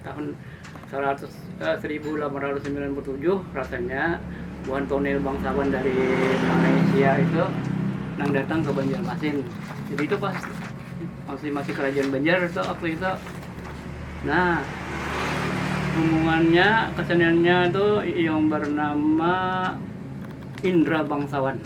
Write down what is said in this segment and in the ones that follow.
Tahun saribu lapan ratus samilan puluh tujuh rasanya buhan tonil bangsawan dari Malaysia itu nang datang ke Banjarmasin. Jadi itu pas masih masih kerajaan Banjar itu waktu itu. Nah, rombongannya keseniannya itu yang bernama Indra Bangsawan.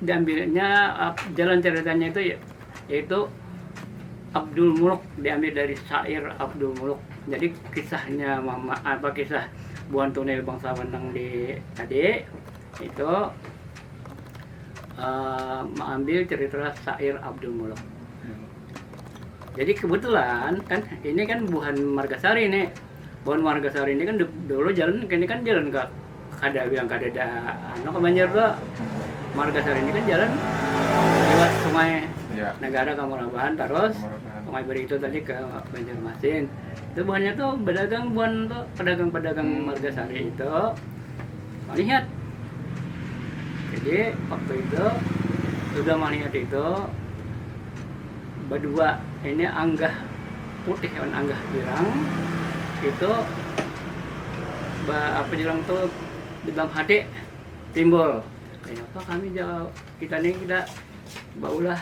Diambilnya jalan caritanya itu yaitu Abdul Muluk diambil dari syair Abdul Muluk. Jadi kisahnya mama apa kisah buhan tunil bangsawan nang di tadi itu uh, mengambil cerita syair Abdul Muluk. Jadi kebetulan kan ini kan buhan Margasari nih. Buhan warga sauri ini kan dahulu jalan kini kan jalan ka kada yang kadada anu ka banjar jua marga sauri ini kan jalan liwat sungai negara ka murabahan tarus sungai baritu tadi ka banjarmasin itu buhannya tu badagang buhan tu padagang padagang marga sauri itu malihat jadi waktu itu sudah malihat itu. Badua ini anggah putih lawan anggah irang itu ba apa dibilang tu di dalam hati timbul kenapa kami jauh kita ni tidak baulah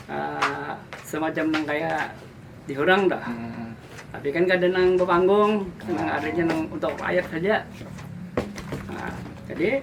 uh, semacam yang kaya di orang dah. Hmm. Tapi kan kada nang berpanggung, hmm. nang adanya nang untuk rakyat saja. Nah, jadi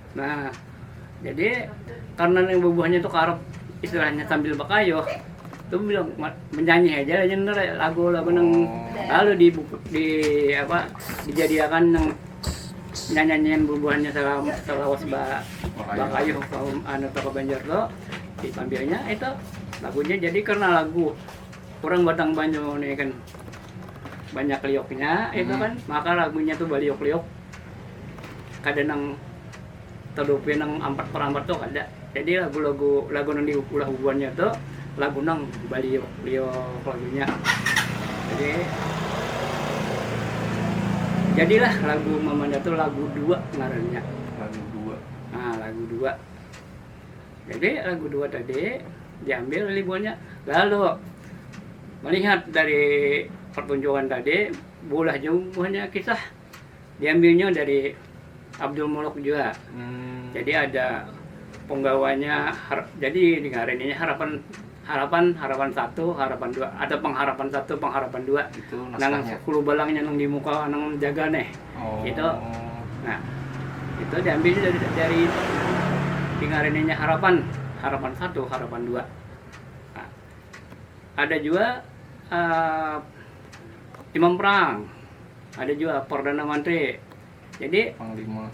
Nah, jadi karena yang bubuhannya itu karep istilahnya sambil bakayuh itu bilang menyanyi aja aja ntar lagu lagu nang lalu di di apa dijadiakan nang nyanyian bubuhannya salam salawas ba bakayuh kaum anu toko banjar tuh diambilnya itu lagunya jadi karena lagu kurang batang banyu nih kan banyak lioknya itu kan maka lagunya tuh baliok-liok kada nang talupi nang ampat per ampat tu kada jadi lagu-lagu lagu nang diulah bubuhannya tu lagu nang baliuk-liuk lagunya jadi jadilah lagu mamanda tu lagu dua ngarannya lagu dua ha lagu dua jadi lagu dua tadi diambil oleh buhannya lalu melihat dari pertunjukan tadi beulah jua buhannya kisah. Diambilnya dari Abdul Muluk jua. Jadi ada penggawanya jadi ngarannya harapan harapan harapan satu harapan dua ada pengharapan satu pengharapan dua nang sepuluh balangnya nang dimuka nang jaga nih oh. itu nah itu diambil dari dari ngarannya harapan harapan satu harapan dua nah, ada juga uh, imam perang Ada jua Perdana Manteri. Jadi Panglima.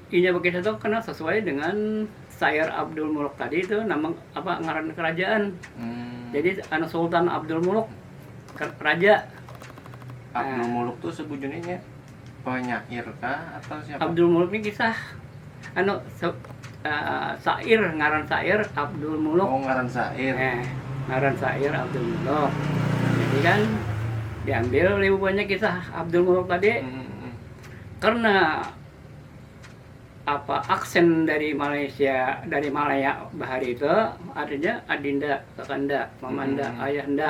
Inya berkisah itu kena sesuai dengan Sair Abdul Muluk tadi itu nama apa ngaran kerajaan. Hmm. Jadi anu Sultan Abdul Muluk raja. Abdul nah. Muluk tuh sebujurnya penyair kah atau siapa? Abdul Muluk ini kisah Anu se, uh, sair ngaran sair Abdul Muluk. Oh ngaran sair. Eh, ngaran sair Abdul Muluk. Jadi kan diambil oleh bubuhannya kisah Abdul Muluk tadi. Hmm, hmm, hmm. Karena apa aksen dari Malaysia dari Malaya bahari itu artinya adinda, kakanda, mamanda, hmm. ayahanda.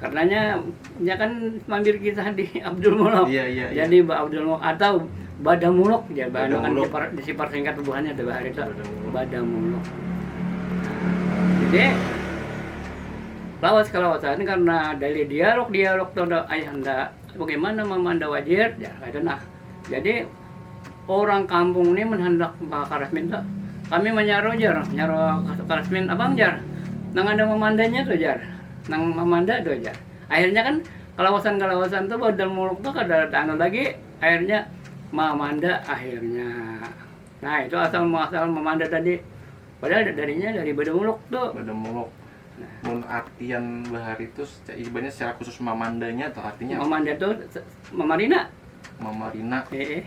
Karenanya, nya kan mampir kisah di Abdul Muluk. Iya, iya, iya. Jadi Mbak Abdul Muluk atau Bada Muluk ya, Bada Bada kan Muluk. dipar, disipar singkat bubuhannya tuh hari itu. Bada Muluk. Bada Muluk. Jadi lawas kalawasan karena dari dialog-dialog tuh ada ayahanda bagaimana mamanda wajib ya ada nah. Jadi Urang kampung ni mun handak bakarasmin tu kami manyaru jar, nyaru karasmin abang jar nang ada mamandanya tu jar, nang mamanda tu jar. Akhirnya kan kalawasan-kalawasan tu badal muluk tu kada taanu lagi akhirnya mamanda akhirnya. Nah itu asal muasal mamanda tadi. Padahal darinya dari badamuluk tu. Mun artian bahari tu ibaratnya secara khusus mamandanya atau artinya? Mamanda tu mamarina. Mamarina. Eh, eh.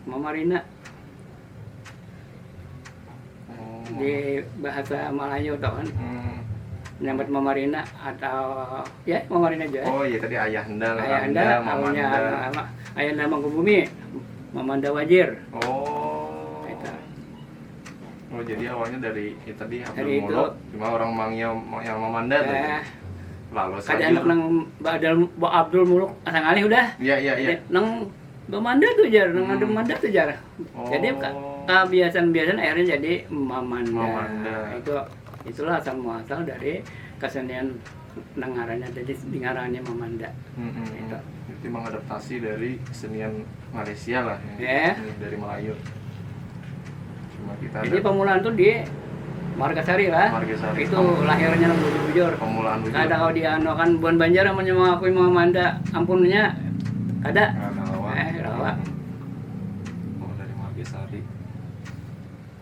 Mamarina. Oh. Di bahasa Melayu tu kan. Hmm. Nyambat mamarina atau ya mamarina aja. Oh iya tadi ayah henda, ayah henda, mamanda. Ayah henda mangkubumi, mamanda wajir. Oh. Oh jadi awalnya dari ya tadi Abdul Dari itu. Muluk, cuma orang Mangya yang Mamanda tuh. Eh, Lalu kada sayur. anak nang badal ba Abdul Muluk asa ngalih udah. Iya iya iya. Hmm. Nang Bamanda tuh jar, nang ada Manda tuh jar. Oh. Jadi ka- kebiasaan-biasaan akhirnya jadi Mamanda. Mamanda. Itu itulah asal muasal dari kesenian Nang ngarannya jadi dingarani mamanda. Hmm, hmm, hmm. Itu. Berarti mengadaptasi dari kesenian Malaysia lah. Ya. Yeah. Dari Melayu. Cuma kita Jadi ada... pemulaan tuh di Margasari lah. Margasari. Itu Pem... lahirnya bujur-bujur. Pemulaan bujur. Ada kau di anu kan buan Banjar yang mengakui mamanda ampunnya ada. Nah, nah, eh, rawa. Hmm. Oh, dari Margasari.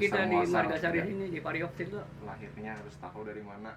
kita di margasari sini di pariok situ lahirnya harus tahu dari mana